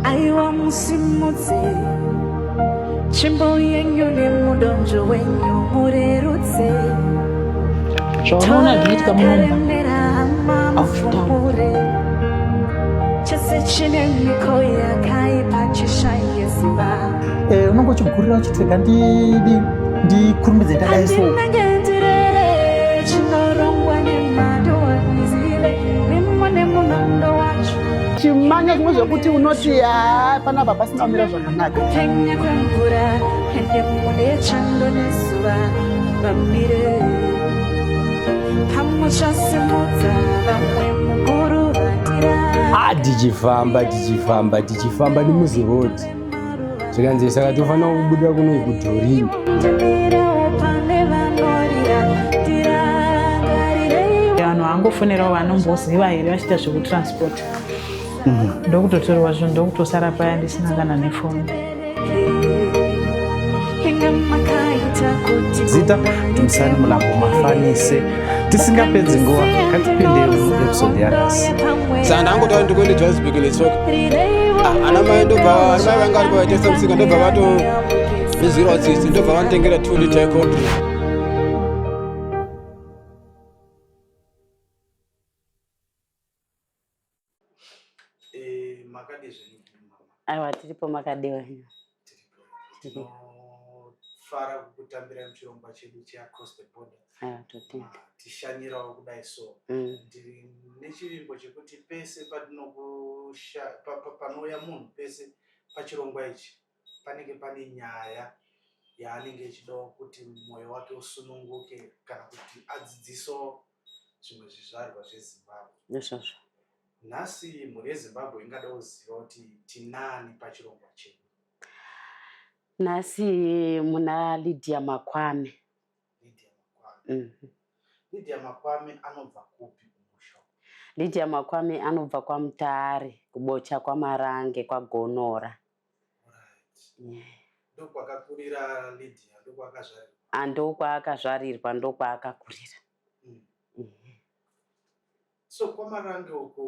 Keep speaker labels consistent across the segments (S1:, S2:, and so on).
S1: aiwa musimudze tsvimbo yenyu nemudonzvo wenyu murerutse
S2: toremerera mafumure
S1: chese chine miko yakaipa chishaye ziva eh, unonge uchigurira
S3: uchitega ndidi ndikurumbidze ndadai so
S1: chimanya zvimwe
S3: zvekuti unoti haa panapa pasina kumira
S1: zvakanaka ah, tichifamba tichifamba tichifamba
S4: nemuzirodi zvikanzi saka tofanira kubuda kuno ikudhorini
S2: vanhu vangofonerawo vanomboziva here vachiita zvekutransport mhm. ndokutotorwa zvinhu ndokutosara paya ndisina kana nefoni
S3: zita timusani mulambo mafanise tisingapedzi nguva katipindei episode yanhasi saka ndangotaura
S4: ndikuende johannesburg netsoka ah, ana mai ndobva ana mai vanga vari vaitesa musika ndobva vato izwirawo tsitsi ndobva vanotengera two liter coffee
S5: Eh, makadii zvenyu mama? Aiwa tiripo makadii wenyu? Tiripo.
S3: Tinofara kukutambira muchirongwa chedu cheacross the border. Aiwa totenda. Ah, tishanyirawo kudai so. Mm. Ndiri nechivimbo chekuti pese patinokusha pa, pa, panouya munhu pese pachirongwa ichi panenge pane nyaya yaanenge echidawo kuti mwoyo wake usununguke kana kuti adzidziso zvimwe zvizvarwa zvezimbabwe izvozvo
S5: nhasi
S3: mhuri yezimbabwe ingada kuziva kuti tinani pachirongwa chedu
S5: nhasi muna lydia makwame lydia makwame mm -hmm.
S3: lydia makwame anobva kupi kumusha lydia makwame
S5: anobva kwamutare kubocha kwamarange kwagonora
S3: ndokwakakurira Lydia ndokwaakazvarirwa ah, ndokwaakazvarirwa
S5: ndokwaakakurira mm.
S3: mm. so kwamarange uko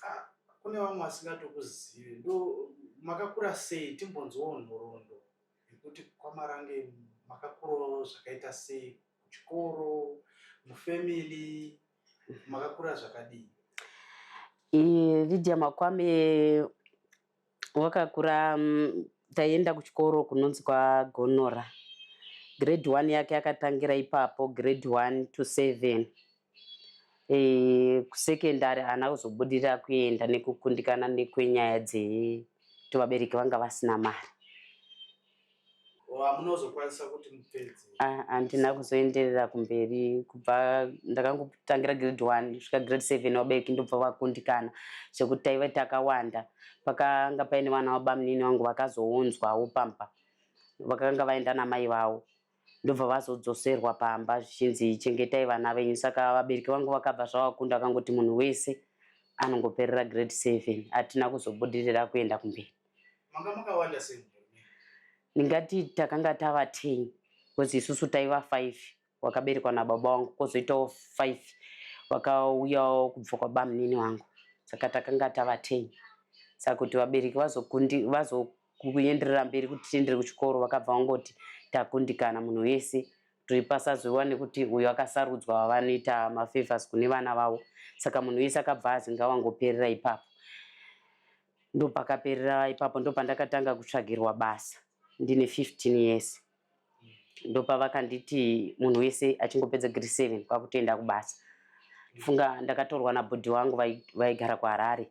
S3: ah, kune vamwe vasingatokuzive ndo makakura sei timbonzwawo nhoroondo yekuti kwamarange makakurawo zvakaita sei kuchikoro mufamily makakura zvakadii
S5: lydia makwame wakakura taienda kuchikoro kunonzi kwagonora grade one yake akatangira ipapo grade one to seven e, kusecondary haana kuzobudirira kuenda nekukundikana nekwenyaya dzekuti vabereki vanga vasina mari
S3: wamunozokwanisa kuti mupedze ah, handina
S5: kuzoenderera kumberi kubva ndakangotangira grade one svika grade seven vabereki ndobva vakundikana zvekuti taive takawanda pakanga paine vana vabamunini vangu vakazounzwawo pamba vakanga vaenda namai vavo ndobva vazodzoserwa pamba zvichinzi chengetai vana venyu saka vabereki vangu vakabva zvavakunda vakangoti munhu wese anongoperera grade seven hatina kuzobudirira kuenda kumberi
S3: ndingati
S5: takanga tava ten bcause isusu taiva five wakaberekwa nababa wangu kozoitawo five vakauyawo kubva kwabamunini wangu saka takanga tava ten saka kuti vabereki vazokundi vazo Kuenderera mberi kuti tiendere kuchikoro vakabva vangoti takundikana munhu wese kuti pasazoiwa nekuti uyo akasarudzwa wavanoita mafavors kune vana vavo saka munhu wese akabva azi ngawangoperera ipapo ndopakaperera ipapo ndopandakatanga kutsvagirwa basa ndine 15 years ndopavakanditi munhu wese achingopedza gre 7 kwakutoenda kubasa funga ndakatorwa nabhodhi wangu vaigara kuharare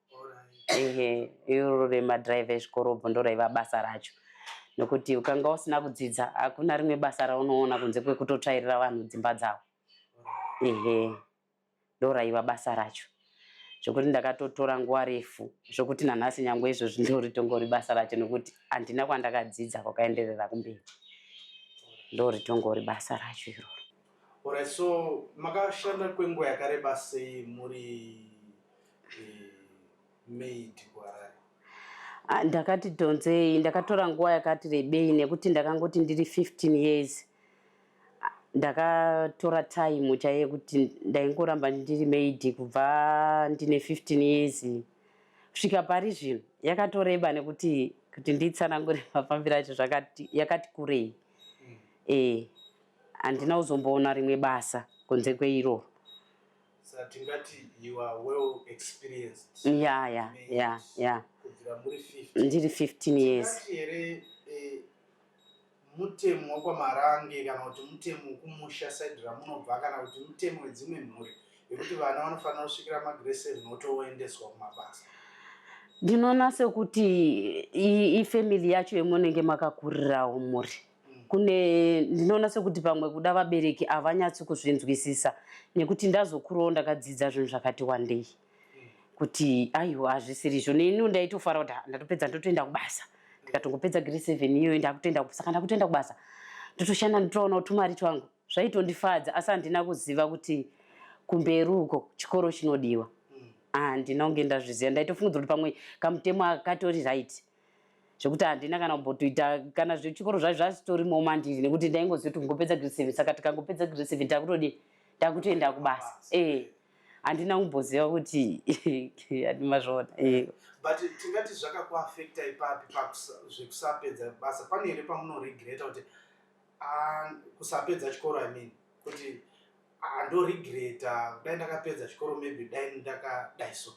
S5: ehe iro remadhiraivha ezvikorobho ndo raiva basa racho nokuti ukanga usina kudzidza hakuna rimwe basa raunoona kunze kwekutotsvairira vanhu dzimba dzavo ehe ndo raiva basa racho zvokuti ndakatotora nguva refu zvokuti nanhasi nyange izvozvi ndoritongori basa racho nokuti handina kwandakadzidza kwakaenderera kumberi ndoritongori basa racho iroro Alright,
S3: so makashanda kwenguva yakareba sei muri maid kuharare Ah,
S5: ndakati dhonzei ndakatora nguva yakati rebei nekuti ndakangoti ndiri 15 years Ah, ndakatora time chaiye yekuti ndaingoramba ndiri maidi kubva ndine 15 years kusvika pari zvino yakatoreba nekuti kuti nditsanangure mafambiro acho zvakati yakati kurei eh handina kuzomboona rimwe basa kunze kweiroro Sa
S3: tingati you are well experienced. Yeah, yeah, yeah, yeah.
S5: Kubvira muri 15.
S3: Ndiri 15
S5: years. Tingati here
S3: eh, mutemo wakwamarange kana kuti mutemo wekumusha side ramunobva kana kuti mutemo wedzimwe mhuri yekuti vana vanofanira kusvikira magre 7 otoendeswa kumabasa ndinoona
S5: sekuti ifamily yacho yemunenge makakurirawo muri kune ndinoona sekuti pamwe kuda vabereki havanyatsi kuzvinzwisisa nekuti ndazokurowo ndakadzidza zvinhu zvakati wandei kuti aiwa hazvisiri izvo neni ndaitofara kuti ndatopedza ndotoenda kubasa ndikatongopedza grade seven iyoyo ndakutoenda saka ndakutoenda kubasa ndotoshanda ndotoona kuti tumari twangu zvaitondifadza asi handina kuziva kuti kumberi uko chikoro chinodiwa handina kunge ndazviziva ndaitofungidzira kuti pamwe kamutemo akatori right zvekuti handina kana kumbotoita kana zvechikoro zvacho zvazvitorimo mandiri nekuti ndaingoziva kuti kungopedza grade seven saka tikangopedza grade seven takutodii takutoenda kubasa ee handina kumboziva kuti andimazvona ee but
S3: tingati zvakakuafecta ipapi zvekusaapedza basa pane here pamunoregreta kuti ah, kusapedza chikoro i mean kuti Ah, ndoregreta kudai ndakapedza chikoro maybe dai ndakadai so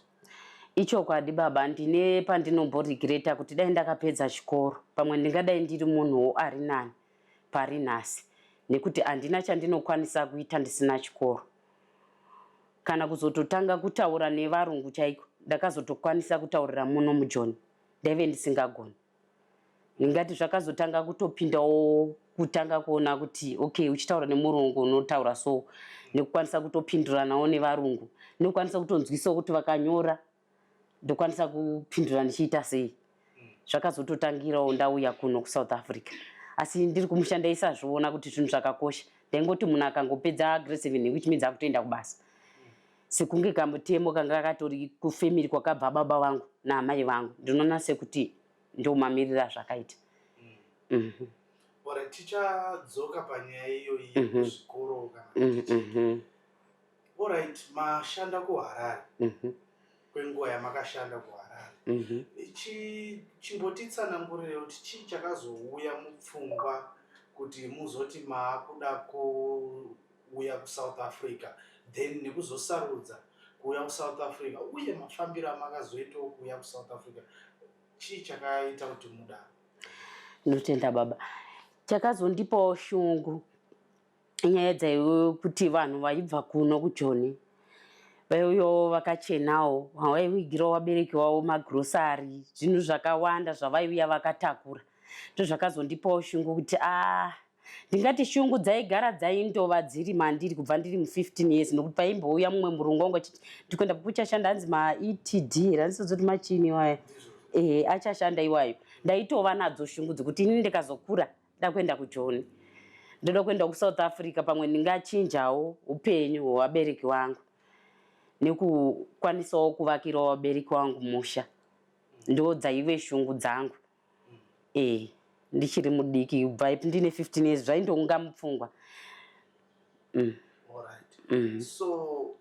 S3: ichokwadi
S5: baba ndine pandinomboregreta kuti dai ndakapedza chikoro pamwe ndingadai ndiri munhuwo ari nani pari nhasi nekuti handina chandinokwanisa kuita ndisina chikoro kana kuzototanga kutaura nevarungu chaiko ndakazotokwanisa kutaurira muno mujoni ndaive ndisingagoni ndingati zvakazotanga kutopindawo kutanga kuona kuti okay uchitaura nemurungu unotaura so nekukwanisa kutopinduranawo nevarungu nekukwanisa kutonzwisawo kuti vakanyora ndokwanisa kupindura ndichiita sei zvakazototangirawo ndauya kuno kusouth africa asi ndiri kumushanda isazviona kuti zvinhu zvakakosha ndaingoti munhu akangopedza grade seven which means akutoenda kubasa sekunge kamutemo kanga kakatori kufemiri kwakabva baba vangu naamai vangu ndinoona sekuti ndomamirira zvakaita mm. mm -hmm.
S3: ora tichadzoka panyaya iyoyi mm -hmm. kuzvikoro kana mm -hmm. orit mashanda kuharare mm -hmm. kwenguva yamakashanda kuharare mm -hmm. chimbotitsanangurirewo kuti chii chakazouya mupfungwa kuti muzoti maakuda ku kuuya kusouth africa then nekuzosarudza kuuya kusouth africa uye mafambiro amakazoitawo kuuya kusouth africa chii chakaita kuti mudaro ndinotenda
S5: baba chakazondipawo shungu nyaya dzaiwe kuti vanhu vaibva kuno kujoni vaiuyawo vakachenawo vaiwigirawo vabereki vavo magrosari zvinhu zvakawanda zvavaiuya vakatakura ndozvakazondipawo shungu kuti aa ah, Ndingati shungu dzaigara dzaindova dziri mandiri kubva ndiri mu 15 years nokuti paimbouya mumwe murungu wangu achiti ndikuenda kukuchashanda hanzi maETD here handisazoti machini iwayo eh achashanda iwayo ndaitova nadzo shungu dzekuti ini ndikazokura ndakuenda kujoni ndoda kuenda kusouth africa pamwe ndingachinjawo upenyu hwevabereki vangu nekukwanisawo kuvakirawo vabereki vangu musha ndo dzaive shungu dzangu eh ndichiri mudiki ubva ipi ndine 15 years zvaindonga mupfungwa mm.
S3: Mm. so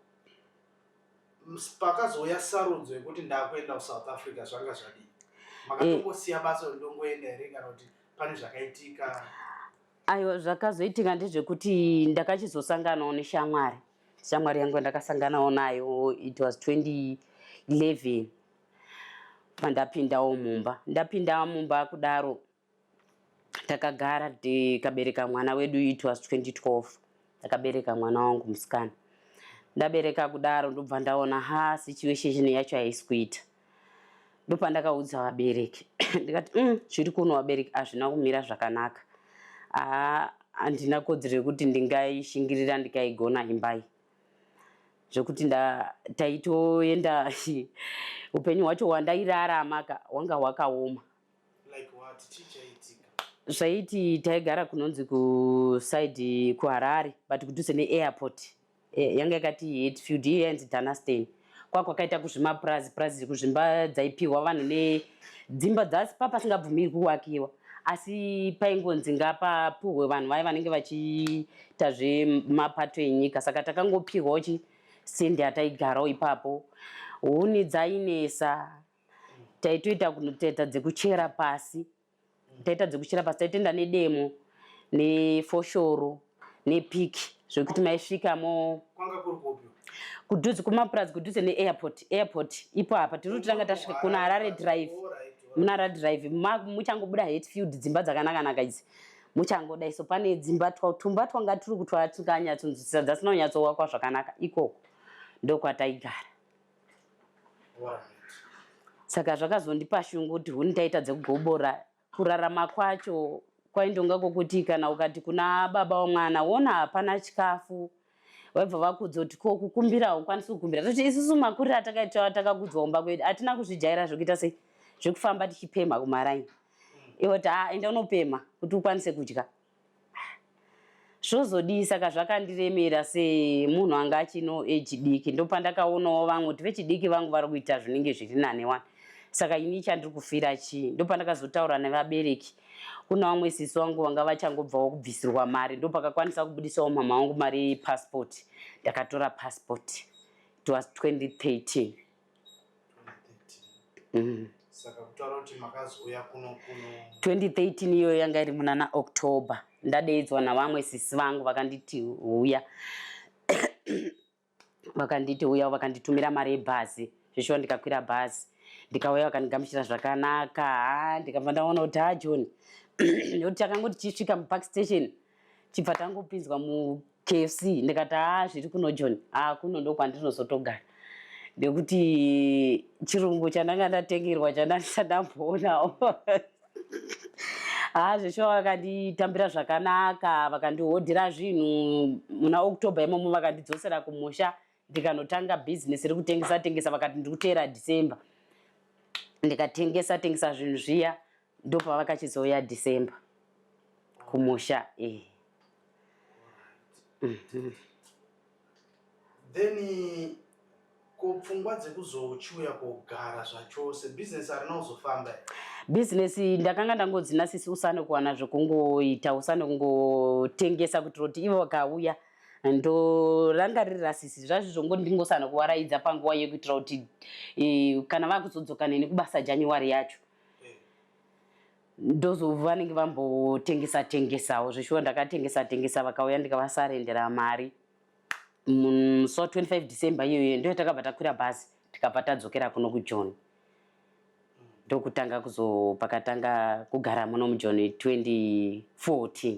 S3: pakazouya sarudzo yekuti ndakuenda kusouth africa zvanga zvadii eh. makatongosiya basa ndongoenda here kana kuti pane zvakaitika aiwa
S5: zvakazoitika ndezvekuti ndakachizosanganawo neshamwari shamwari yangu yandakasanganawo nayo it was 2011 pandapindawo mumba ndapinda mumba kudaro takagara tikabereka mwana wedu it was 2012 ndakabereka mwana wangu musikana ndabereka kudaro ndobva ndaona ha situation yacho haisi kuita ndopandakaudza vabereki ndikati mm, zviri mm, kuno vabereki hazvina kumira zvakanaka aa handina kodzero yekuti ndingaishingirira ndikaigona imbai zvekuti taitoenda upenyu hwacho
S3: hwandairarama
S5: ka hwanga
S3: hwakaoma
S5: zvaiti taigara kunonzi kusaidi kuharare but kudhuze neairport eh, yanga yakati hetfield iyanzi danastein kwakwakaita kuzvimapurazi purazi kuzvimba dzaipihwa vanhu nedzimba dzasi pa pasingabvumirwi kuwakiwa asi paingonzi ngapapuhwe vanhu vaye vanenge vachiita zvemapato enyika saka takangopihwawo chi sendi yataigarawo ipapo huni dzainesa taitoita kunoteta dzekuchera pasi taita dzekuchera pasi taitenda nedemo nefoshoro nepiki zvekuti maisvika mo kudhuze kumapurazi kudhuze neairport airport ipo apa tiri kuti tanga tasvika kuna harare drive muna harare drive muchangobuda hetfield dzimba dzakanakanaka idzi muchangoda iso pane dzimba tumba twanga tiri kutwara tinganyatsonzwisisa dzasina kunyatsowakwa zvakanaka ikoko ndokwataigara saka zvakazondipa shungu kuti huni ndaita dzekugobora kurarama kwacho kwaindonga kwokuti kana ukati kuna baba wamwana wona hapana chikafu vaibva vakudza kuti ko kukumbira haukwanisi kukumbira toti isusu makuriro atakaita takakudzwa kumba kwedu hatina kuzvijaira zvekuita sei zvekufamba tichipemha kumaraini ivo ti haa enda unopemha kuti ukwanise kudya zvozodii saka zvakandiremera semunhu anga achino age diki ndopandakaonawo vamwe kuti vechidiki vangu vari kuita zvinenge zviri nane wani saka ini chandiri kufira chii ndopandakazotaura nevabereki kune vamwe sisi vangu vanga vachangobvawo kubvisirwa mari ndopakakwanisa kubudisawo mama vangu mari yepasipoti ndakatora pasipoti it was 2013 Mm.
S3: saka kutaura kuti makazouya kuno
S5: kuno 2013 iyoyo yanga iri munana october ndadeidzwa navamwe sisi vangu vakanditi huya vakanditi huya vakanditumira mari yebhazi zvishuwa ndikakwira bhazi ndikauya vakandigamuchira zvakanaka ndikabva ndaona kuti ha ah, john nekuti takangoti chisvika mupark station chibva tangopinzwa mukfc ndikati haa zviri kuno john haa kuno ndokwandinozotogara nekuti chirungu chandanga ndatengerwa chandandisandamboonao haa zveshuwa vakanditambira zvakanaka vakandihodhera zvinhu muna october imomo vakandidzosera kumusha ndikanotanga business rekutengesa tengesa vakati ndiri kuteera december ndikatengesa tengesa zvinhu zviya ndopavakachizouya december kumusha eh. mm -hmm.
S3: then ko pfungwa dzekuzochiuya kogara zvachose business arina kuzofamba business
S5: ndakanga ndangodzina sisi usane kuwana zvekungoita usane kungotengesa kuti roti ivo vakauya ndorangaririra sisi zvazvo zvongo ndingosana kuvaraidza panguva yekuitira kuti e, kana vakuzodzoka neni kubasa january yacho ndozova vanenge vambotengesa tengesawo zveshuwa ndakatengesa tengesa vakauya ndikavasarendera mari so 25 december iyoyo ndo yatakabva takwira bhazi tikabva tadzokera kuno kujoni ndokutanga kuzopakatanga kugara muno mujoni 2014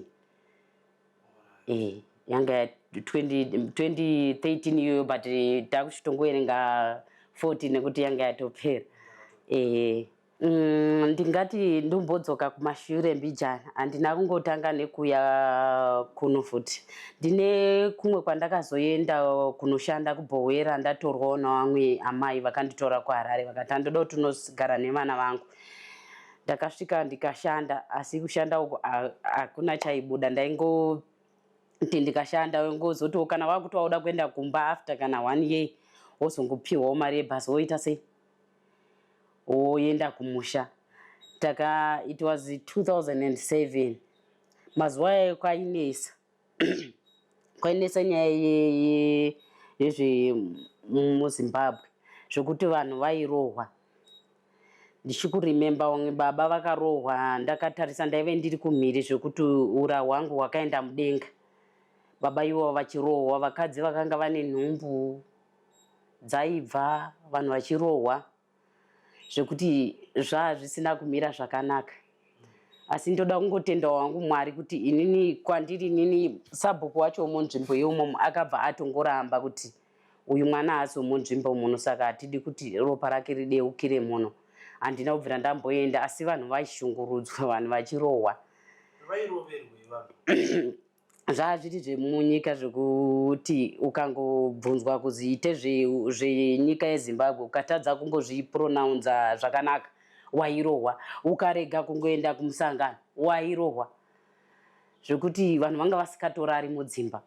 S5: eh, yanga ya 20 2013 iyoyo but takuchitongoerenga 14 nekuti yanga yatopera eh, mm, ndingati ndombodzoka kumashure mbijana handina kungotanga nekuya kuno futi ndine kumwe kwandakazoenda kunoshanda kubhowera ndatorwawo navamwe amai vakanditora kuharare vakati andoda kuti unogara nevana vangu Ndakasvika ndikashanda asi kushanda uko hakuna chaibuda ndaingoti ndikashanda wengozotiwo kana wakuti wauda kuenda kumba after kana one year wozongopiwawo mari yebhasi woita sei woenda kumusha taka it was 2007 mazuva ayo kwainesa kwainetsa nyaya yezvemuzimbabwe zvekuti vanhu vairohwa ndichikurememba vamwe baba vakarohwa ndakatarisa ndaive ndiri kumhiri zvekuti ura hwangu hwakaenda mudenga baba ivo vachirohwa vakadzi vakanga vane nhumbu dzaibva vanhu vachirohwa zvekuti zvaa zvisina kumira zvakanaka asi ndoda kungotenda wangu mwari kuti inini kwandiri inini sabhuku wacho womunzvimbo yeumom akabva atongoramba kuti uyu mwana haasi womunzvimbo muno saka hatidi kuti ropa rake rideukire muno handina kubvira ndamboenda asi vanhu vaishungurudzwa vanhu vachirohwa zvaazviti zvemunyika zvekuti ukangobvunzwa kuzi ite zvenyika zve yezimbabwe ukatadza kumbozvipronounza zvakanaka wairohwa ukarega kungoenda kumusangano wairohwa zvekuti vanhu vanga vasikatorari mudzimba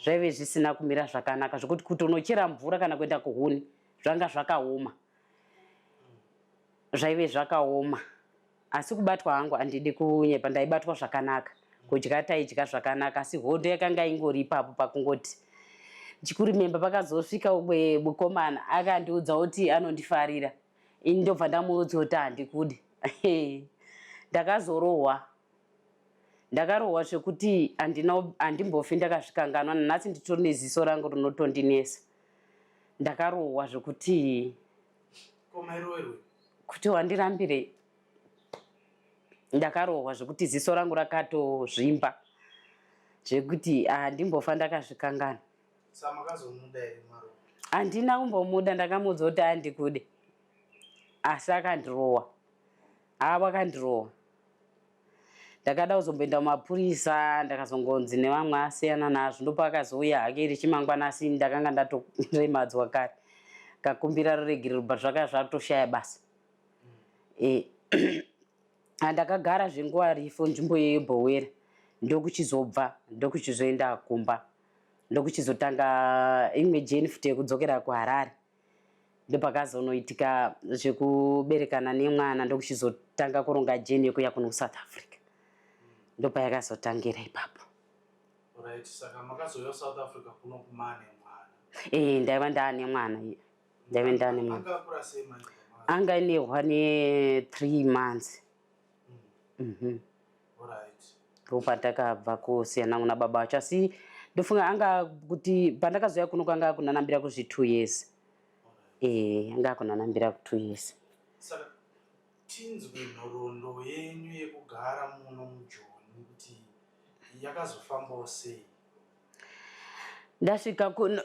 S5: zvaive zvisina kumira zvakanaka zvekuti kutonochera mvura kana kuenda kuhuni zvanga zvakaoma zvaive zvakaoma Asi kubatwa hangu handidi kunyepa ndaibatwa zvakanaka. Kudya taidya zvakanaka asi hondo yakanga ingori ipapo pakungoti ndichikurememba pakazosvika umwe mukomana akandiudza kuti anondifarira ini ndobva ndamuudza kuti handikude ndakazorohwa ndakarohwa zvekuti handimbofi ndakazvikanganwa nanhasi nditori neziso rangu rinotondinesa ndakarohwa zvekuti kuti wandirambirei ndakarohwa zvekuti ziso rangu rakatozvimba zvekuti handimbofa ndakazvikangana handina kumbomuda ndakamuudza kuti andikude asi akandirowa haa wakandirowa ndakada kuzomboenda kumapurisa ndakazongonzi nevamwe asiyana nazvo ndopakazouya hake iri chimangwana asi ndakanga ndatoremadzwa kare kakumbira ruregerero but zvakanga zvatoshaya basa eh, andakagara zvenguva rifo nzvimbo yeyo bhowera ndokuchizobva ndokuchizoenda kumba ndokuchizotanga imwe jeni futi yekudzokera kuharare ndopakazonoitika zvekuberekana nemwana ndokuchizotanga kuronga jeni yekuya kuno kusouth africa ndopayakazotangira ipapo
S3: ee ndaiva ndaane
S5: mwana iye ndaive ndaane mwana
S3: anga inehwa
S5: ne three months mm -hmm.
S3: ndopatakabva
S5: kusiyana kuna baba vacho asi ndofunga anga kuti pandakazouya kuno kwanga kunanambira kuzvi two years ee anga kunanambira ku two years
S3: tinzwe nhoroondo yenyu yekugara muno mujoni kuti yakazofambawo sei
S5: ndasvika kuno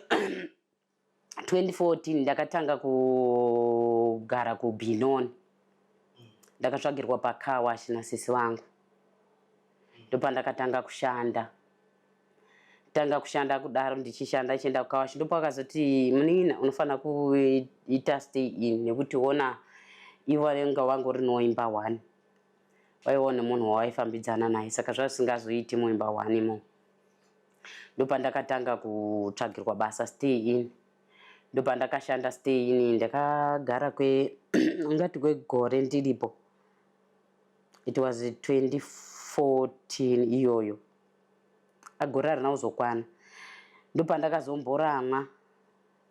S5: 2014 ndakatanga kugara kubinon ndakatsvagirwa pakawash nasisi vangu ndopandakatanga kushanda tanga kushanda kudaro ndichishanda ndichienda kukawash ndipo akazoti munin'ina unofanira kuita stay in nekuti ona ivo vanenge vanga uri noimba one waivawo nemunhu wawaifambidzana naye saka zvazvisingazoiti muimba one imomo ndopandakatanga kutsvagirwa basa stay in ndopandakashanda stay in ndakagara kwe ungati kwegore ndiripo it was 2014 iyoyo agore arina kuzokwana ndopandakazomboramwa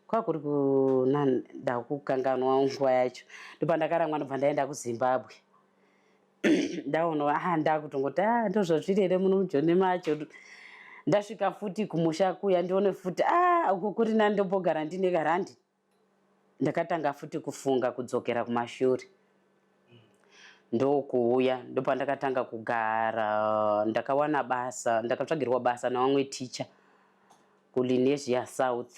S5: kwakuri kuna ndakukanganwa nguva yacho ndopandakaramwa ndobva ndaenda kuzimbabwe ndaona aha ndakutongoti a ah, ndozvazviri here muno mujoni macho ndasvika futi kumusha kuya ndione futi a ah, uku kuri nani ndombogara ndine karandi ndakatanga futi kufunga kudzokera kumashure ndokuuya ndopandakatanga kugara ndakawana basa ndakatsvagirwa basa navamwe ticha kulinesia south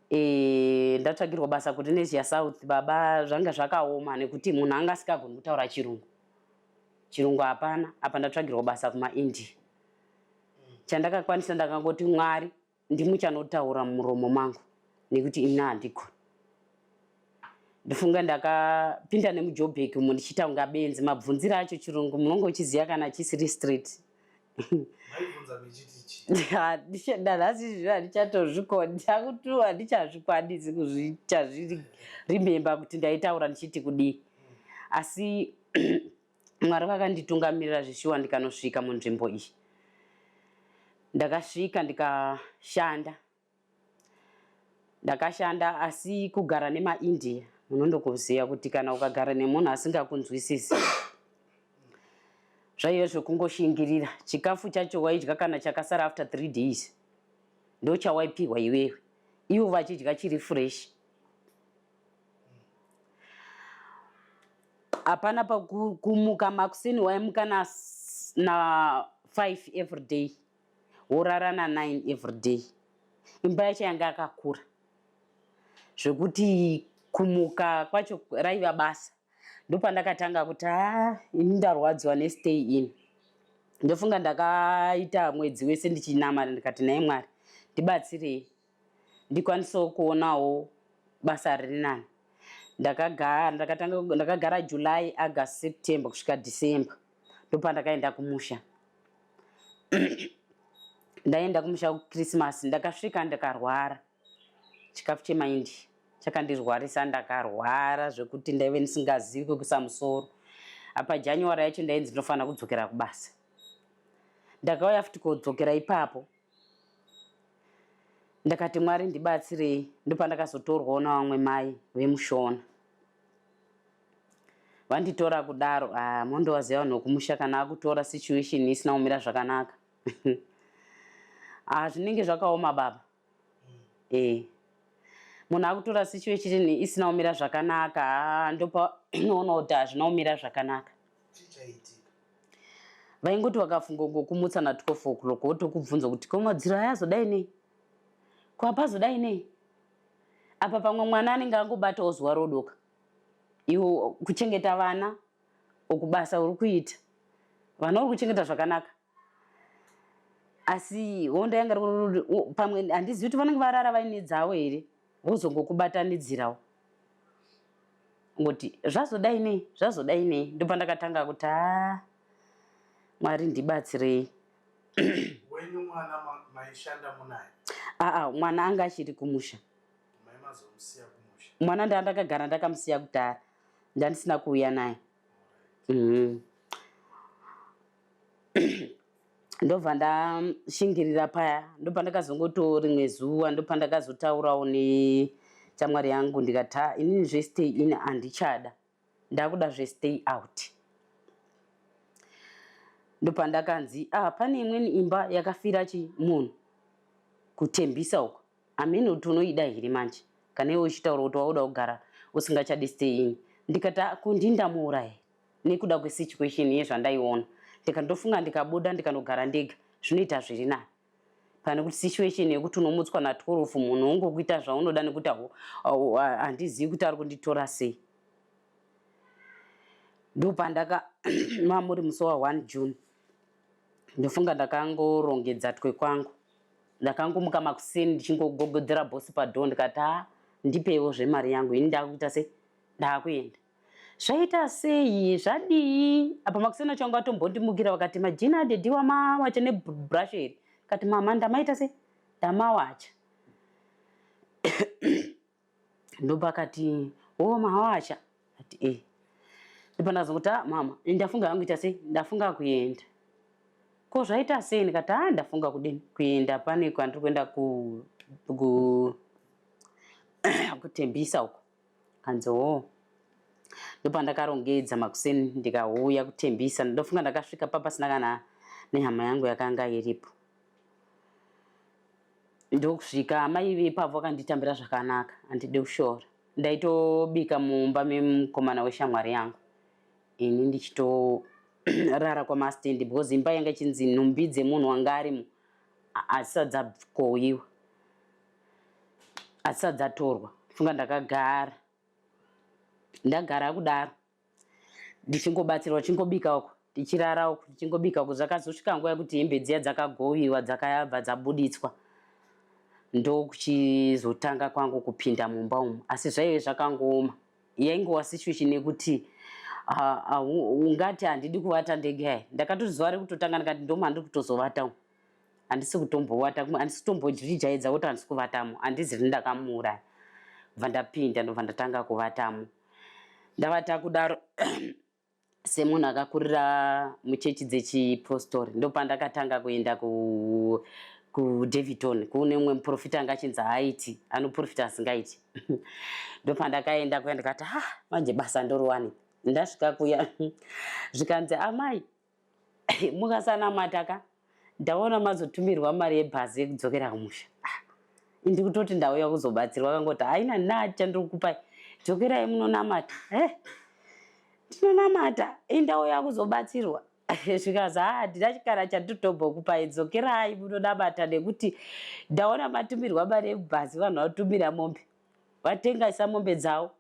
S5: e, ndatsvagirwa basa kulinesia south baba zvanga zvakaoma nekuti munhu anga asikagoni kutaura chirungu chirungu hapana apa ndatsvagirwa basa kumaindia chandakakwanisa ndakangoti mwari ndimuchanotaura mumuromo mangu nekuti ini handigoni ndofunga ndakapinda nemujobek umo ndichitaunga benzi mabvunziro acho chirungu munonge uchiziva kana chisiri street ndazvichatozvikondakutuwa ndichazvikwanisi kuzvichazvirimemba kuti ndaitaura ndichiti kudii asi Mwari vakanditungamirira zveshuwa ndikanosvika munzvimbo iyi. Ndakasvika ndikashanda. Ndakashanda asi kugara nemaIndia munondokuziva kuti kana ukagara nemunhu asingakunzwisisi zvaive zvekungoshingirira. Chikafu chacho waidya kana chakasara after three days ndochawaipihwa iwewe ivo vachidya chiri fresh. hapana pakumuka makuseni waimuka na, na five everyday worara na nine everyday imba yacho yanga yakakura zvekuti kumuka kwacho raiva basa ndopandakatanga kuti ha ini ndarwadziwa nestay in ndofunga ndakaita mwedzi wese ndichinamara ndikati naye mwari ndibatsirei ndikwanisewo kuonawo basa riri nani ndakagara ndakatanga ndakagara july august september kusvika december ndopandakaenda kumusha ndaenda kumusha kuchristmas ndakasvika ndakarwara chikafu chemaindi chakandirwarisa ndakarwara zvekuti ndaive ndisingazivi kwekuisa musoro apa january yacho ndainzi ndinofanira kudzokera kubasa ndakauya futi kodzokera ipapo Ndakati Mwari ndibatsirei ndopandakazotorwawo navamwe mai vemushona vanditora kudaro ah, mondovaziva vanhu vekumusha kana akutora situation isina kumira zvakanaka ah, zvinenge zvakaoma baba eh munhu akutora situation isina kumira zvakanaka ah, ndopa unoona kuti hazvina kumira zvakanaka vaingoti vakafunga kungokumutsa na 12 o'clock wotokubvunza kuti ko madziro aya azodai nei ko apazodai nei apa pamwe mwana anenge angobatawo zuva rodoka iwo kuchengeta vana okubasa uri kuita vana uri kuchengeta zvakanaka asi honda yanga pamwe handizivi kuti vanenge varara vaine dzavo here vozongokubatanidzirawo ngoti zvazodai nei zvazodai nei ndopandakatanga kuti a mwari ndibatsirei
S3: wenyu mwana maishanda munaye aa mwana anga achiri
S5: kumusha
S3: mwana ndandakagara
S5: ndakamusiya kudhara ndandisina kuuya naye mm -hmm. ndobva ndashingirira paya ndopandakazongoto rimwe zuva ndopandakazotaurawo nechamwari yangu ndikati ha inini zvestay in handichada ndakuda zvestay out ndopandakanzi ah pane imweni imba yakafira chi munhu kutembisa uko amene kuti unoida here manje kana iwe uchitaura kuti wauda kugara usingachadi stay in ndikati ah, kundindamuuraya nekuda kwesituation yezvandaiona ndikandofunga ndikabuda ndikanogara ndega zvinoita zviri nani pane kuti situation yekuti unomutswa na 12 munhu ungokuita zvaunoda nekuti handizivi kuti ari kunditora sei ndopandaka mamuri musi wa 1 june ndofunga ndakangoorongedza twe kwangu ndakangomuka makuseni ndichingogogodzera bosi padhoo ndikati ha ndipewo zvemari yangu ini ndakuita sei ndakuenda Zvaita sei? Zvadii? Apa makuseni acho vanga vatombondimukira vakati majini adhedhi wamawacha nebrush iri. Kati mama ndamaita sei? Ndamawacha. Ndobva akati wo mawacha. Ati eh. Ndipo ndazongokuti ah mama ndafunga hangu ita sei? Ndafunga kuenda. Ko zvaita sei? Ndikati ah ndafunga kudini? Kuenda pane kwandiri kuenda ku ku kutembisa uko. Hanzi hoo. Ndopandakarongedza makuseni ndikauya kuTembisa. Ndofunga ndakasvika papa pasina kana nehama yangu yakanga iripo. Ndokusvika amai vepavo vakanditambira zvakanaka handide kushora. Ndaitobika mumba memukomana weshamwari yangu ini ndichitorara kwamastendi because imba yanga ichinzi nhumbi dzemunhu wanga arimo asisadzabkowiwa adzisati dzatorwa funga ndakagara ndagara kudaro ndichingobatsirwa tichingobika uko tichirara uko tichingobika uko zvakazosvika nguva yekuti hembe dziya dzakagowiwa dzakabva dzabuditswa ndokuchizotanga kwangu kupinda mumba umu asi zvaive zvakangooma yaingova situation yekuti ungati handidi kuvata ndege yayi ndakatoziva rekutotanga ndikati ndomandiri kutozovata umu handisi kutombowata handisi kutombozvijaidza kuti handisi kuvatamo handizi rini ndakamuuraya bva ndapinda ndobva ndatanga kuvatamo ndavata kudaro semunhu akakurira muchechi dzechipostori ndopandakatanga kuenda kudaviton kuune umwe muprofita anga achinzi haaiti anoprofita asingaiti ndopandakaenda kuya ndikati ha ah, manje basa ndoriwani ndasvika kuya zvikanzi amai mukasanamata ka ndaona mazotumirwa mari yebhazi yekudzokera kumusha ah, indi kutoti ndauya kuzobatsirwa kangoti haina nati chandiri kupai dzokerai munonamata eh, tinonamata indauya kuzobatsirwa zvikazi haa handina chikara chanditotombokupai dzokerai munonamata nekuti ndaona matumirwa mari yekubhazi vanhu vatumira mombe vatengaisa mombe dzavo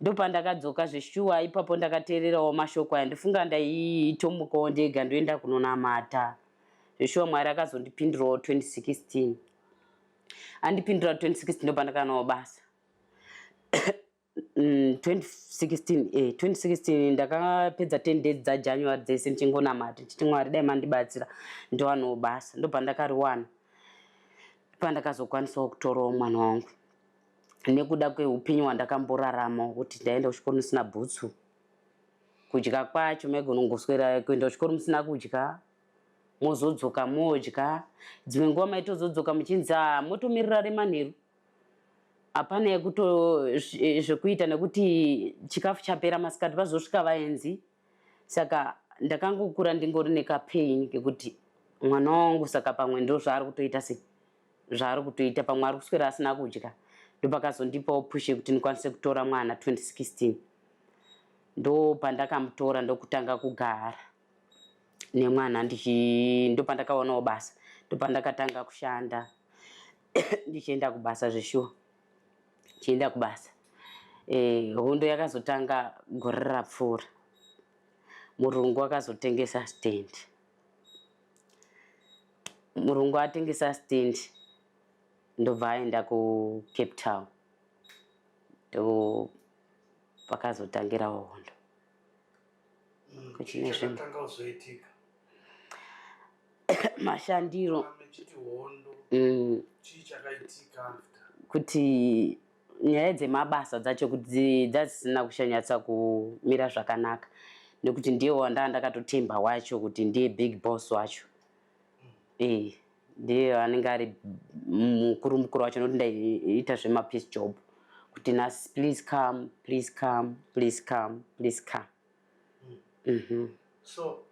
S5: Ndopandakadzoka zveshuwa ipapo ndakateererawo mashoko aya ndofunga ndaitomukawo ndega ndoenda kunonamata. Zveshuwa Mwari akazondipindurawo 2016. Andipindura 2016 ndopandakanawo basa. 2016 mm, eh, 2016 ndakapedza 10 days dzajanuary dzese ndichingonamata ndichiti mwari dai mandibatsira ndowanawo basa ndopandakariwana pandakazokwanisawo kutorawo mwana wangu nekuda kwehupenyu hwandakamborarama kuti ndaenda kuchikoro ndisina bhutsu kudya kwacho maigona kungoswera kuenda kuchikoro musina kudya mozodzoka modya dzimwe nguva maitozodzoka muchinzi a motomirira remanheru hapana yekuto zvekuita nekuti chikafu chapera masikati vazosvika vaenzi saka ndakangokura ndingori nekapain kekuti mwana wangu saka pamwe ndozvaari kutoita sei zvaari kutoita pamwe ari kuswera asina kudya ndopakazondipawo push yekuti ndikwanise kutora mwana 2016 ndopandakamutora ndokutanga kugara nemwana ndopandakaonawo basa ndopandakatanga kushanda ndichienda kubasa zveshuwa ndichienda kubasa eh, hondo e, yakazotanga gore rapfuura murungu akazotengesa stendi Murungu atengesa stand ndobva aenda kucape town ndo pakazotangira hondo mm, kuchine
S3: zvinhu
S5: mashandiro mm.
S3: kuti
S5: nyaya dzemabasa dzacho kuti dzadzisina kuchanyatsa kumira zvakanaka nekuti ndiye wandaa ndakatotemba wacho kuti ndiye big boss wacho e ndiye anenge ari mukuru mukuru wacho nokuti ndaiita zvemapeace job kuti nas please come please come please come please come mm -hmm.
S3: so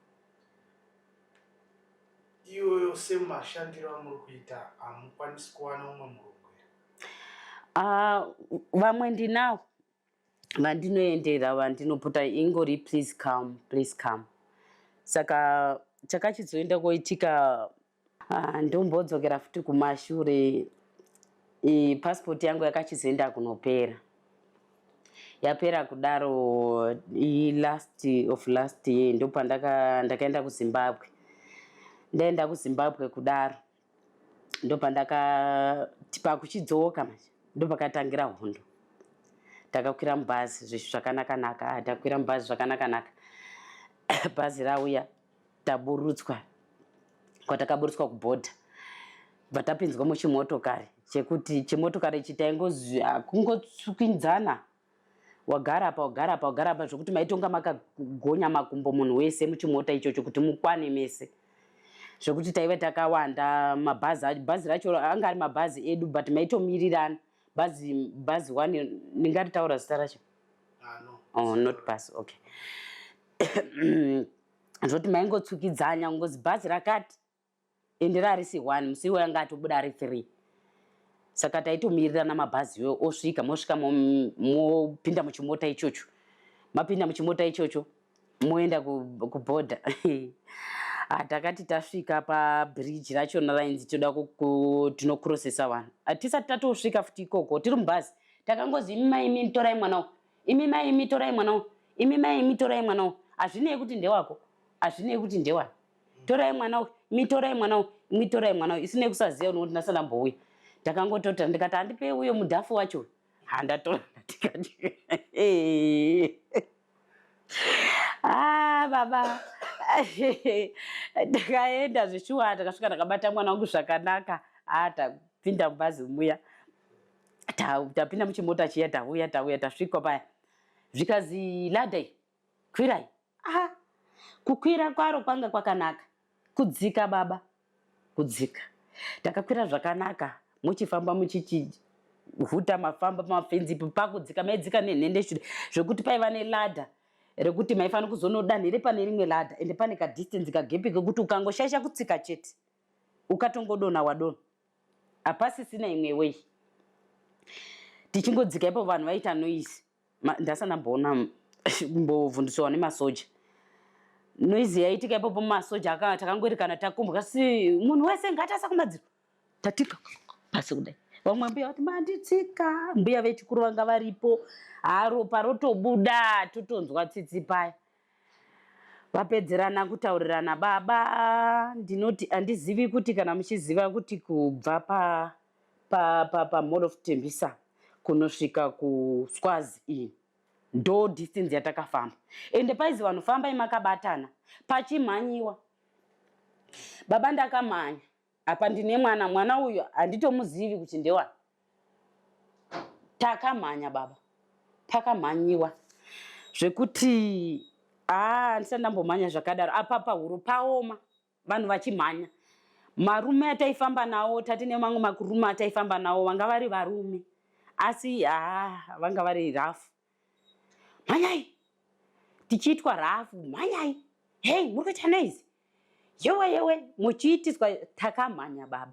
S3: iyoyo semashandiro amuri kuita hamukwanisi kuwana umwe murume Ah,
S5: vamwe ndinawo vandinoendera vandinopota ingori please come please come saka chakachizoenda koitika ah, ndombodzokera futi kumashure i passport yangu yakachizoenda kunopera yapera kudaro i last of last year ndopandaka ndakaenda kuzimbabwe ndaenda kuzimbabwe kudaro ndopandakati pakuchidzoka manje ndopakatangira hondo takakwira mubhazi zvishu zvakanaka naka ah, takwira mubhazi zvakanaka naka bhazi rauya taburutswa kwatakaburutswa kubhodha bva tapinzwa muchimotokari chekuti chimotokari ichi taingokungotswinzana Wagara apa wagara apa wagara apa zvekuti maitonga makagonya makumbo munhu wese muchimota ichocho kuti mukwane mese zvekuti taiva takawanda mabhazi bhazi racho anga ari mabhazi edu but maitomirirana bhazi bhazi one ndingati taura zita racho ah, no. oh, not bus okay zvoti maingotsukidzanya kungozi bhazi rakati ende raarisi one musi iwoyo anga atobuda ari three saka taitomirira namabhazi iwoyo osvika mosvika mopinda mo, muchimota ichocho mapinda muchimota ichocho moenda kubhodha ah, takati tasvika pabridge rachona rainzi toda tinokurosesa vanhu hatisati ah, tatosvika futi ikoko tiri mubhazi takangozi imi mai imi torai mwana wo imi mai imi torai mwana wo imi mai imi torai mwana wo hazvinei kuti ndewako hazvinei kuti ndewani torai mwana uyu mitorai mwana uyu mitorai mwana uyu isine kusaziva unokuti ndasana mbouya ndakangotota ndikati handipei uyo mudhafu wacho uyu handatora ndikati ah baba ndakaenda zveshuwa ndakasvika ndakabata mwana wangu zvakanaka ah tapinda mubhazi muya tapinda muchimota chiya tauya tauya tasvikwa paya zvikazi ladai Kwirai. Aha. Kukwira kwaro kwanga kwakanaka. Kudzika baba. Kudzika. Takakwira zvakanaka muchifamba muchichi huta mafamba pamafenzi ipo pakudzika maidzika nenhende shure zvekuti paiva neladha rekuti maifanira kuzonodanhire pane rimwe ladha ende pane kadistance kagepi kekuti ukangoshaisha kutsika chete ukatongodona wadona hapasisina imwe wei tichingodzika ipo vanhu vaita noise ndasa ndamboona mbovhu ndisowa nemasoja noizi yaitika ipapo masoja aka takangoerekana takumbwa si munhu wese ngatasa kumadziro tatika pasi kudai vamwe mbuya vati manditsika mbuya vechikuru vanga varipo haropa rotobuda totonzwa tsitsi paya vapedzerana kutaurirana baba ndinoti handizivi kuti kana muchiziva kuti kubva pa pa pa pa mall of tembisa kunosvika kuswazi iyi ndo distance yatakafamba ende paizi vanhu fambai makabatana pachimhanyiwa baba ndakamhanya apa ndine mwana mwana uyu handitomuzivi kuti ndewani takamhanya baba pakamhanyiwa zvekuti haa ndisati ndambomhanya zvakadaro apapa huro paoma vanhu vachimhanya marume ataifamba nawo tati nemamwe makurume ataifamba nawo vanga vari varume asi haa vanga vari rafu mhanyai tichiitwa rafu mhanyai hei muri kuita noizi yewe yewe muchiitiswa takamhanya baba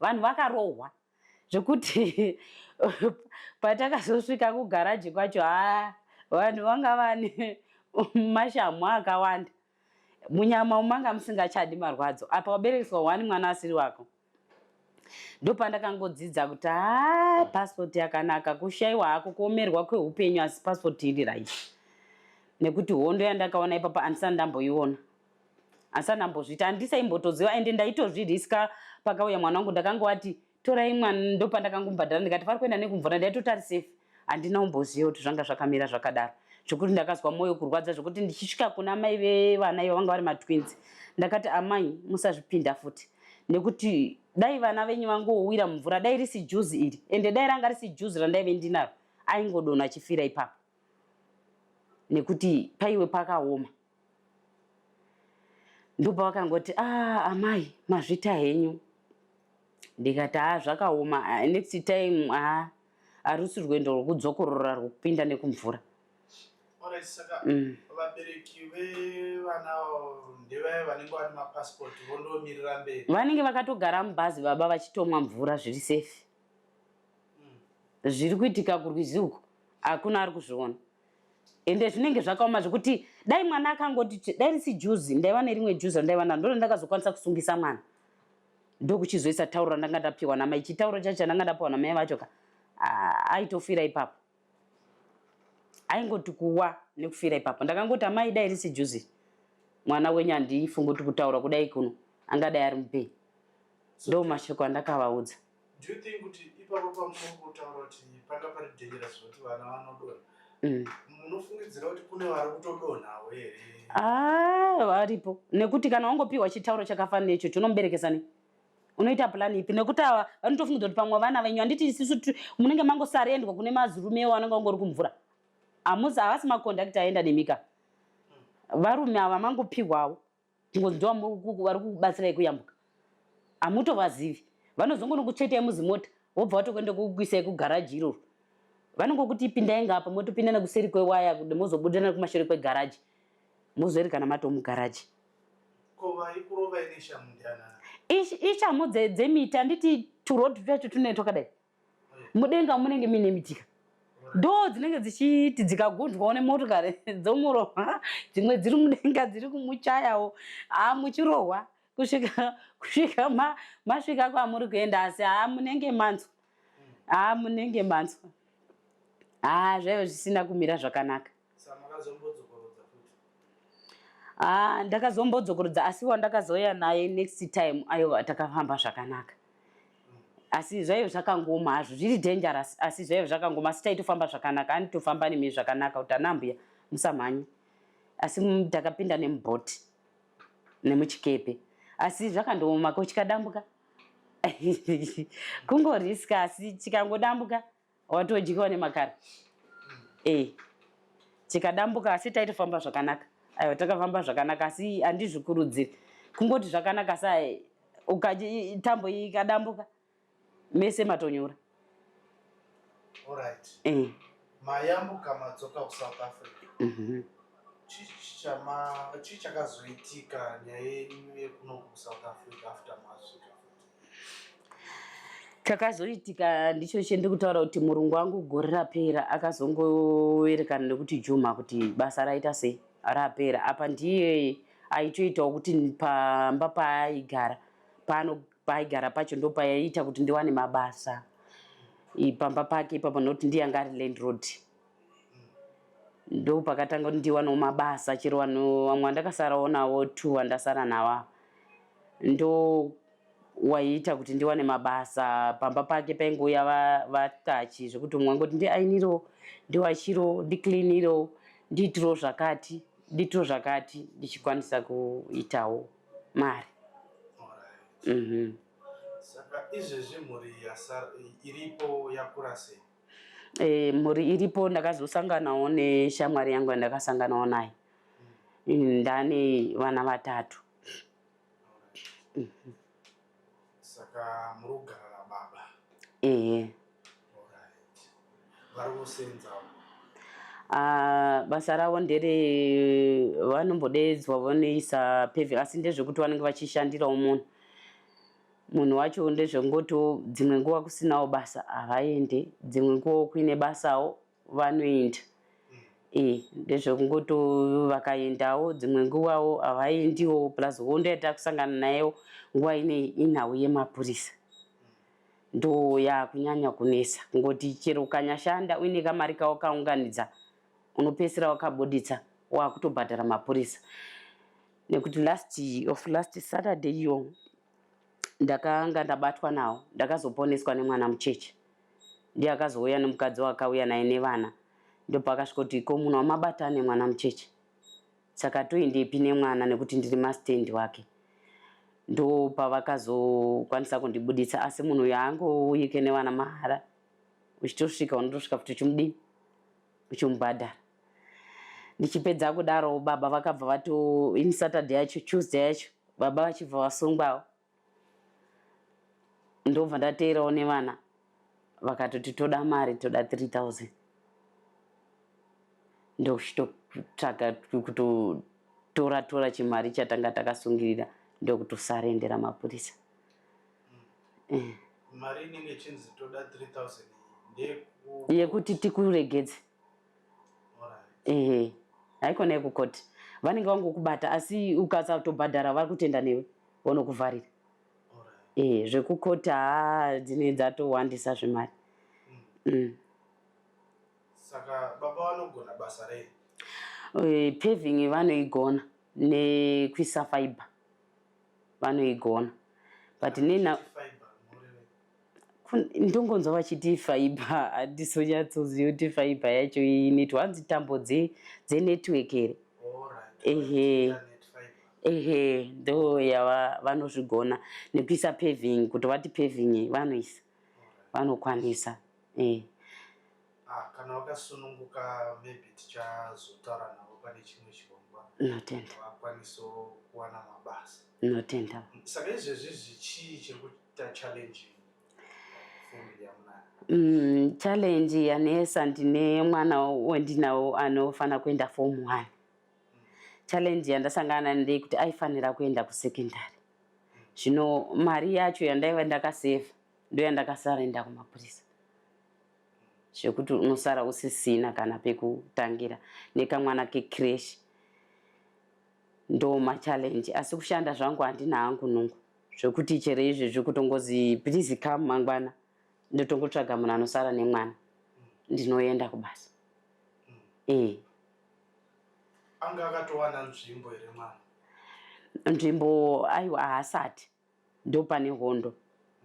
S5: vanhu vakarohwa zvekuti patakazosvika kugaraji kwacho haa vanhu vanga vane mashamhu akawanda munyama umanga musingachadi marwadzo apa waberekeswa wani mwana asiri wako ndopandakangodzidza kuti haa paspoti yakanaka kushaiwa hako kuomerwa kweupenyu asi paspoti iri right nekuti hondo yandakaona ipapa andisani ndamboiona asana ambozviita handisa imbotoziva ende ndaitozviriska pakauya mwana wangu ndakangovati torai mwana ndopandakangombhadhara ndikati vari kuenda nekumvura ndaitoti ari safe handina umboziva kuti zvanga zvakamira zvakadaro zvekuti ndakazwa mwoyo kurwadza zvekuti ndichisvika kuna amai vevana ivo vanga vari matwins ndakati amai musazvipinda futi nekuti dai vana venyu vangowira mumvura dai risi juzi iri ende dai ranga risi juzi randaive ndinaro aingodona achifira ipapo nekuti paiwe pakaoma ndobva vakangoti ah amai mazvita henyu ndikati haa zvakaoma ah, next time haa harusi rwendo rwokudzokorora rwokupinda nekumvura Alright,
S3: saka Mm. vabereki vevana avo ndevaya vanenge vane mapasipoti vondomirira mberi vanenge vakatogara
S5: mubhazi baba vachitomwa mvura zviri safe Mm. zviri kuitika kurwizi uko hakuna ari kuzviona ende zvinenge zvakaoma zvekuti dai mwana akangoti dai risi juzi ndaiva nerimwe juzi randaiva naro ndona ndakazokwanisa kusungisa mwana ndokuchizoisa tauro randanga ndapiwa namai chitauro chacho chandanga ndapiwa namai vacho ka aitofira ipapo aingoti kuwa nekufira ipapo ndakangoti amai dai risi juzi mwana wenyu handifungi kuti kutaura kudai kuno angadai ari mupenyu ndo mashoko andakavaudza so, do you think kuti
S3: ipapo pamunongotaura kuti panga pari dangerous kuti vana vanodonha mm. munofungidzira kuti kune vari kutodonhawo here ah, varipo
S5: nekuti kana wangopiwa chitauro chakafanira icho chonomuberekesa nei unoita plani ipi nekuti ava vanotofungidzira kuti pamwe vana venyu handiti isisu munenge mangosarendwa kune mazirume ewo anenge angori kumvura hamusi havasi makondakti aenda nemika varume ava mangopihwawo kungonzwa vari kukubatsirai kuyambuka hamutovazivi vanozongonokuchetai muzimota vobva vatokuenda kukuisai kugaraji iroro vanongokuti pindai ngapa motopindana kuseri kwewaya kuti mozobudana kumashure kwegaraji mozoerekana mato mugaraji
S3: ishamhu
S5: dzemiti handiti turoad twacho tunee twakadai mudenga munenge muine mitika ndoo dzinenge dzichiti dzikagunzwawo nemotokari dzomurohwa dzimwe dziri mudenga dziri kumuchayawo haa muchirohwa kusvika kusvika masvika kwamuri kuenda asi haa munenge manzwa haa munenge manzwa haa zvaiva zvisina kumira zvakanaka
S3: Ah,
S5: ndakazombodzokorodza asi wandakazouya naye next time aiwa takafamba zvakanaka asi zvaive zvakangoma hazvo zviri dangerous asi zvaive zvakangoma asi taitofamba zvakanaka anitofamba nemi zvakanaka kuti anambuya musamhanye asi ndakapinda nemubhoti nemuchikepe asi zvakandooma ko chikadambuka kungoriska asi chikangodambuka watodyiwa nemakara eh tikadambuka asi taitofamba zvakanaka aiwa takafamba zvakanaka asi handizvikurudziri kungoti zvakanaka sa ukaji tambo ikadambuka mese matonyura Alright.
S3: Eh. Mayambuka madzoka ku South Africa. Mhm. Chichama chichakazoitika nyaya yenyu yekuno ku South Africa after masvika futi.
S5: chakazoitika ndicho chende kutaura kuti murungu wangu gore rapera akazongoerekana nekuti juma kuti basa raita sei rapera apa ndiye aitoitawo kuti pamba paaigara pano paaigara pacho ndo paiita kuti ndiwane mabasa pamba pake ipapo nokuti ndiye anga ari landroad ndo pakatanga kuti ndiwanewo mabasa chero vanhu vamwe vandakasarawo navo two vandasara nava ndo waiita kuti ndiwane mabasa pamba pake paingouya vatachi va zvekuti umwe angoti ndiainiro ndiwachiro ndicleaniro ndiitiro zvakati ndiitiro zvakati ndichikwanisa kuitawo mari mm -hmm.
S3: saka izvezvi mhuri iripo yakura sei e, mhuri
S5: iripo ndakazosanganawo neshamwari yangu yandakasanganawo naye ndane vana vatatu
S3: saka muri kugara nababa ehe vari kusenza ah,
S5: basa ravo ndere vanombodeedzwa vanoisa pevi asi ndezvekuti vanenge vachishandirawo munhu munhu wacho ndezvengotiwo dzimwe nguva kusinawo basa havaende dzimwe nguvawo kuine basawo vanoenda e ndezvekungoti vakaendawo dzimwe nguvawo havaendiwo plus hondo yatava kusangana nayewo nguva inei inhau yemapurisa ndo yakunyanya kunetsa kungoti chero ukanyashanda uine kamari kawo kaunganidza unopesera wakabuditsa wakutobhadhara mapurisa nekuti last of last saturday iyo ndakanga ndabatwa nawo ndakazoponeswa nemwana mucheche ndiye akazouya nemukadzi wakauya naye nevana ndopakasvikoti ko munhu wamabata ane mwana mucheche saka toendepi nemwana nekuti ndiri mastendi wake ndopavakazokwanisa kundibuditsa asi munhu uyo aangouyike nevana mahara uchitosvika unotosvika futi uchimudii uchimubhadhara ndichipedza kudaro baba vakabva vato in saturday yacho tuesday yacho baba vachibva vasungwawo ndobva ndateerawo nevana vakatoti toda mari toda 3000 ndokuchitotsvaga kutotora tora chimari chatanga takasungirira ndokutosarendera mapurisa eh.
S3: mari inenge chinzi toda 3000 yekuti
S5: tikuregedze ehe haikona yekukoti vanenge vangokubata asi ukasatobhadhara vari kutenda newe vonokuvharira ehe zvekukoti haa dzine dzatowandisa zvemari mm.
S3: saka baba vanogona basa rei Eh, paving
S5: vanoigona nekuisa fiber vanoigona but nena Fiber, mureve. ndongonzwa vachiti fiber handisonyatsoziva kuti fiber yacho inoitwa hanzi tambo dzenetwork here ehe ehe ndo yava vanozvigona nekuisa paving kuti vati paving vanoisa vanokwanisa e
S3: ah, kana wakasununguka maybe tichazotaura navo pane chimwe chirongwa notenda vakwanisa kuwana mabasa notenda saka
S5: izvezvi
S3: zvichii chekuti Mm, challenge
S5: yanesa ndine mwana wendinawo anofanira kuenda form one challenge yandasangana ndei kuti aifanira kuenda kusecondary zvino mari yacho yandaiva ndakaseva ndo yandakasarenda kumapurisa zvekuti unosara usisina kana pekutangira nekamwana kecresh ndo machallenge asi kushanda zvangu handina hangu nungu zvekuti chero izvezvi kutongozi please come mangwana ndotongotsvaga munhu anosara nemwana ndinoenda kubasa ee
S3: anga akatowana nzvimbo
S5: here mwana nzvimbo aiwa haasati ndopane hondo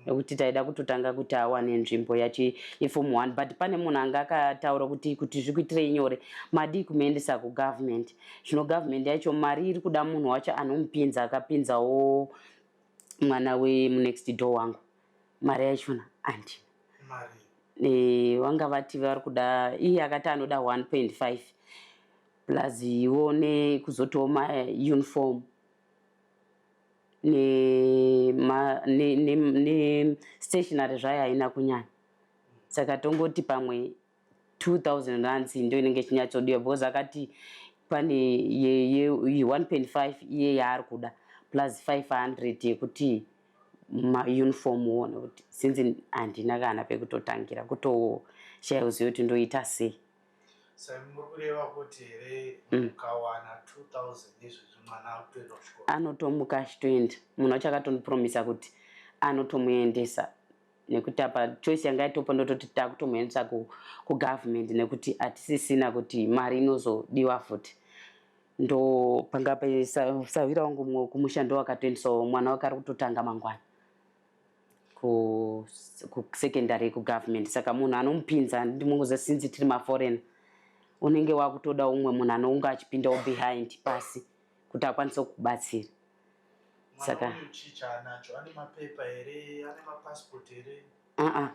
S5: nekuti taida kutotanga kuti awane nzvimbo yachi yeform one but pane munhu anga akataura kuti kuti zvikuitirei nyore madii kumuendesa kugovernment Zvino government yacho mari iri kuda munhu wacho anomupinza akapinzawo mwana wemunext door wangu mari yachona andina e,
S3: vanga vati
S5: vari kuda iye akati anoda 1.5 plus iwo nekuzotiwo mauniform nestationary zvayo haina kunyanya saka tongoti pamwe 2000 rands ndo inenge ichinyatsodiwa because akati pane ye, ye, 1.5 iye yaari kuda plus 500 yekuti mauniform uone kuti since handina kana pekutotangira kutoshaya kuziva kuti ndoita sei
S3: mm. anotomuka achitoenda
S5: munhu
S3: wacho
S5: akatondipromisa
S3: kuti
S5: anotomuendesa nekuti apa choice yanga yatopa ndototi takutomuendesa kugovernment nekuti hatisisina kuti mari inozodiwa futi ndo panga pesahwira wangu mumwe wekumusha ndo wakatoendisawo mwana wake ari kutotanga mangwana kusecondary kugovernment saka munhu anomupinza ndimunguza sinzi tiri maforeign unenge wakutoda umwe munhu anounga achipindawo behind pasi kuti akwanise kukubatsira
S3: saka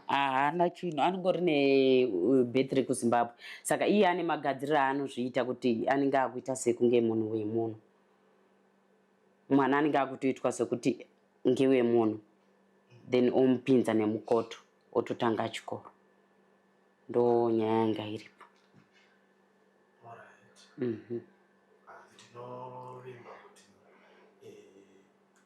S3: haana
S5: chinhu anongori nebetry uh, kuzimbabwe saka iye ane magadziriro aanozviita kuti anenge akuita sekunge munhu wemunhu mwana anenge akutoitwa sekuti ngewemunhu then omupinza nemukoto ototanga chikoro ndo nyaya yanga iripo mm -hmm.
S3: and tinovimba kuti eh,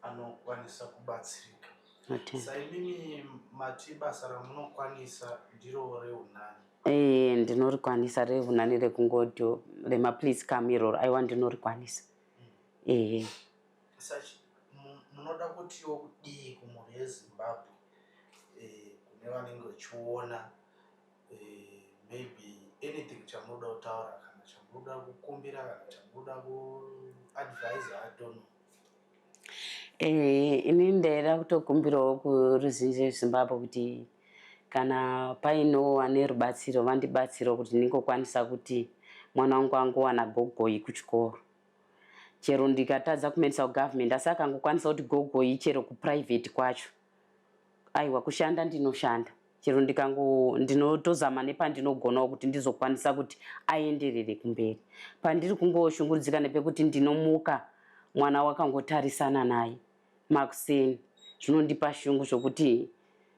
S3: anokwanisa kubatsirika Ati- saimimi mati basa ramunokwanisa ndiro reunani Eh, ndinorikwanisa
S5: revunani rekungoto remaplease come iroro aiwa ndinorikwanisa ehe
S3: sachi mu- munoda kutiwo kudii kumhuri yezimbabwe eh, kune vanenge vachiona maybe anything chamunoda kutaura kana chamunoda kukumbira kana chamunoda kuadvisa i don't know Eh,
S5: ini ndaida kutokumbirawo kuruzhinji rwezimbabwe kuti kana painowo ane rubatsiro vandibatsirawo kuti ndingokwanisa kuti mwana wangu angowana gogoi kuchikoro chero ndikatadza kumaendesa kugovernment asi akangokwanisa kuti gogoi chero kuprivate kwacho Aiwa kushanda ndinoshanda chero ndikango ndinotozama nepandinogonawo kuti ndizokwanisa kuti aenderere kumberi. Pandiri kungoshungurudzika nepekuti ndinomuka mwana wakangotarisana naye makuseni zvinondipa shungu zvokuti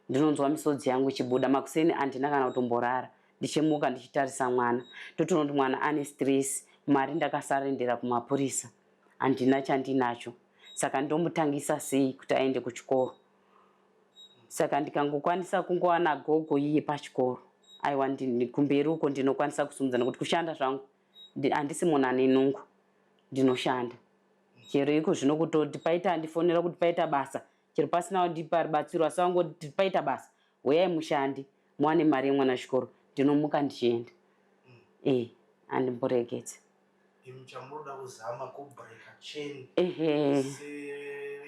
S5: ndinonzwa misodzi yangu ichibuda. Makuseni handina kana kutomborara ndichimuka ndichitarisa mwana ndotoona kuti mwana ane stress, mari ndakasarendera kumapurisa. handina chandinacho saka ndomutangisa sei kuti aende kuchikoro saka ndikangokwanisa kungowana gogo iye pachikoro aiwa kumberi uko ndinokwanisa kusumudza nokuti kushanda zvangu handisi munhu ane nungu ndinoshanda chero iko zvino kutoti paita andifonera kuti paita basa chero pasina wandipa ribatsiro asi wangoti paita basa huyai mushandi muwane mari yemwana chikoro ndinomuka ndichienda e andimboregedza Imi chamunoda
S3: kuzama ku breaker chain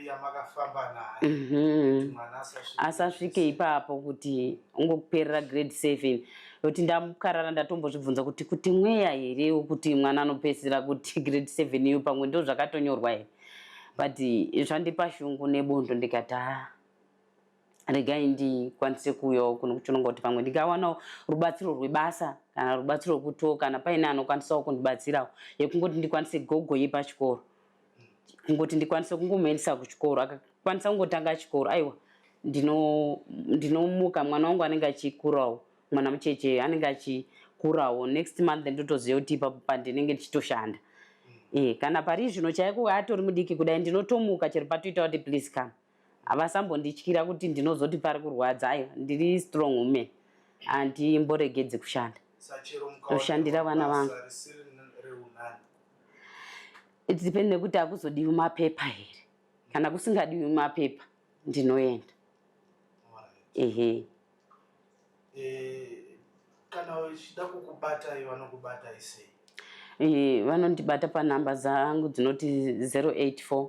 S3: yamakafamba nayo mhm. mwana asasvike
S5: ipapo kuti ungokuperera grade seven kuti ndamukarara ndatombozvibvunza kuti kuti mweya here kuti mwana anopedzisira kuti grade seven iyo pamwe ndo zvakatonyorwa here but zvandipa shungu nebondo ndikati haa regai ndikwanise kuuyawo kuno kuchononga kuti pamwe ndingawanawo rubatsiro rwebasa kana rubatsiro rwekuto kana paine anokwanisawo kundibatsirawo yekungoti ndikwanise gogo yepachikoro kungoti ndikwanise kungomuendesa kuchikoro akakwanisa kungotanga chikoro aiwa ndinomuka mwana wangu anenge achikurawo mwana mucheche anenge achikurawo next month ndotoziva kuti ipapo pandinenge ndichitoshanda e, kana pari zvino chaiko atori mudiki kudai ndinotomuka chero patoita kuti please come Havasambondityira kuti ndinozoti pari kurwadza aiwa ndiri strong woman handimboregedzi kushanda. Ndoshandira vana vangu. It depends nekuti akuzodiwi mapepa here. Kana kusingadiwi mapepa ndinoenda. Ehe. Eh,
S3: kana uchida kukubatai vanokubatai sei? Eh, vanondibata
S5: panhamba dzangu dzinoti 084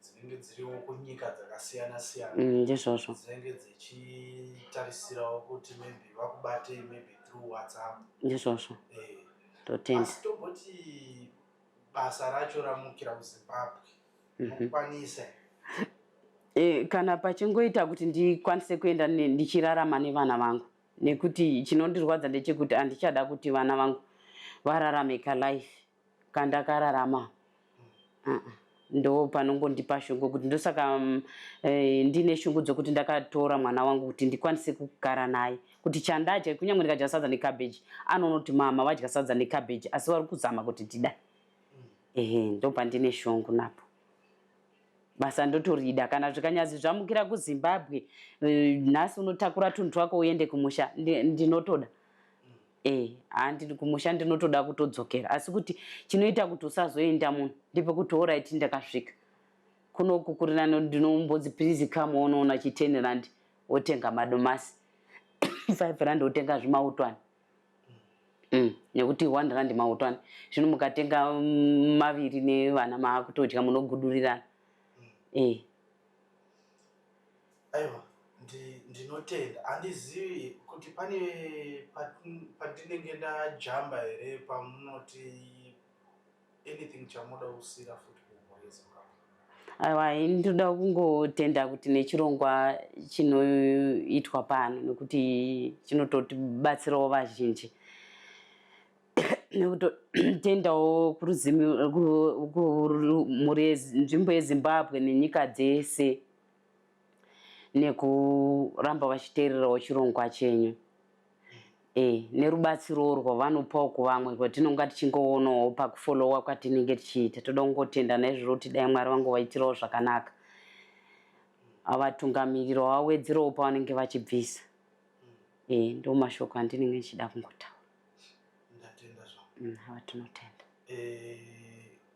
S3: dzinenge dziriwo kunyika dzakasiyana siyana mm, ndizvozvo mm, dzinenge dzichitarisirawo kuti maybe vakubatei maybe through whatsapp ndizvozvo
S5: eh. totenda asi tomboti
S3: basa racho ramukira kuzimbabwe mhm. mokwanisa mm
S5: -hmm. Eh, kana pachingoita kuti ndikwanise kuenda ndichirarama nevana vangu nekuti chinondirwadza ndechekuti handichada kuti vana vangu vararame kalife kandakararama ah, ndo panongondipa shungu kuti ndosaka mm, eh, ndine shungu dzokuti ndakatora mwana wangu kuti ndikwanise kugara naye kuti chandadya kunyange ndikadya sadza necabbage anonoti mama vadya sadza necabbage asi vari kuzama kuti ndida ehe ndo pandine shungu napo basa ndotorida kana zvikanyazi zvamukira kuzimbabwe eh, nhasi unotakura tunhu twako uende kumusha ndinotoda ndi Eh, haa ndiri kumusha ndinotoda kutodzokera asi kuti chinoita kuti usazoenda muno ndepekuti orit ndakasvika kunoku kuri nano ndinombodzi please come onoona chi ten rand wotenga madomasi five rand wotenga zvimautwani mm, nekuti one rand mautwani zvino mukatenga mm, maviri nevana maakutodya munogudurirana mm. eh.
S3: Aiwa ndinotenda handizivi kuti pane pandinenge ndajamba here pamunoti anything chamunoda kusira futi
S5: aiwa ini ndinoda kungotenda kuti nechirongwa chinoitwa pano nekuti chinototibatsirawo vazhinji nekutotendawo kuruzimuri yenzvimbo yezimbabwe nenyika dzese nekuramba vachiteererawo chirongwa chenyu e, nerubatsirowo rwavanopawo kuvamwe rwatinonga tichingoonawo pakufolowa kwatinenge tichiita toda kungotenda naizvozvo kuti dai mwari vangovaitirawo zvakanaka avatungamiriro vawedzerawo pavanenge vachibvisa e, ndo mashoko andinenge ndichida kungotaura mm, awa tinotenda e...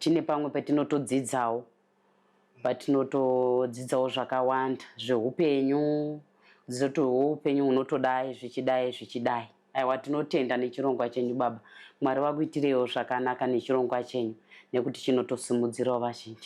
S5: tine pamwe patinotodzidzawo patinotodzidzawo zvakawanda zveupenyu kudzidza kuti hwo upenyu hunotodai zvichidai zvichidai aiwa tinotenda nechirongwa chenyu baba mwari vakuitireiwo zvakanaka nechirongwa chenyu nekuti chinotosimudzirawo vazhinji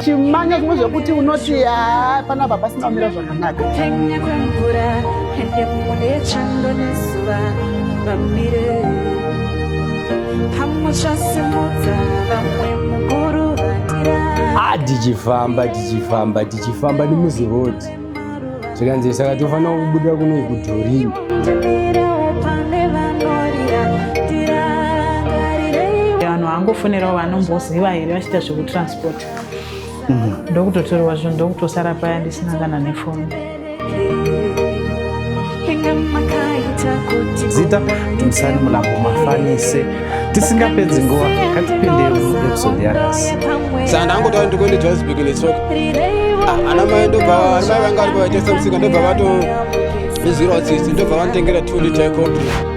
S1: chimanya zvimwe
S6: zvekuti unoti haa panapa pasina kumira zvakanaka kupenya kwemvura
S1: ende mune chando nezuva vamire pamwe chasimudza vamwe mukuru vatira ah tichifamba tichifamba
S4: tichifamba nemuzi road zvikanzi saka tofanira kubuda kunoi kudhorini
S2: vanhu vangofonerawo vanomboziva here vachiita zvekutransport mhm. ndokutotorwa zvinhu ndokutosara paya ndisina kana nefoni
S6: zita timusani mulambo mafanise tisingapedzi nguva katipindei episode yanhasi saka ndangotaura
S4: ndikuende johannesburg netsoka ah, ana mai ndobva ana mai vanga vari pavaitesa musika ndobva vato izwirawo tsitsi ndobva vanotengera two liter coffee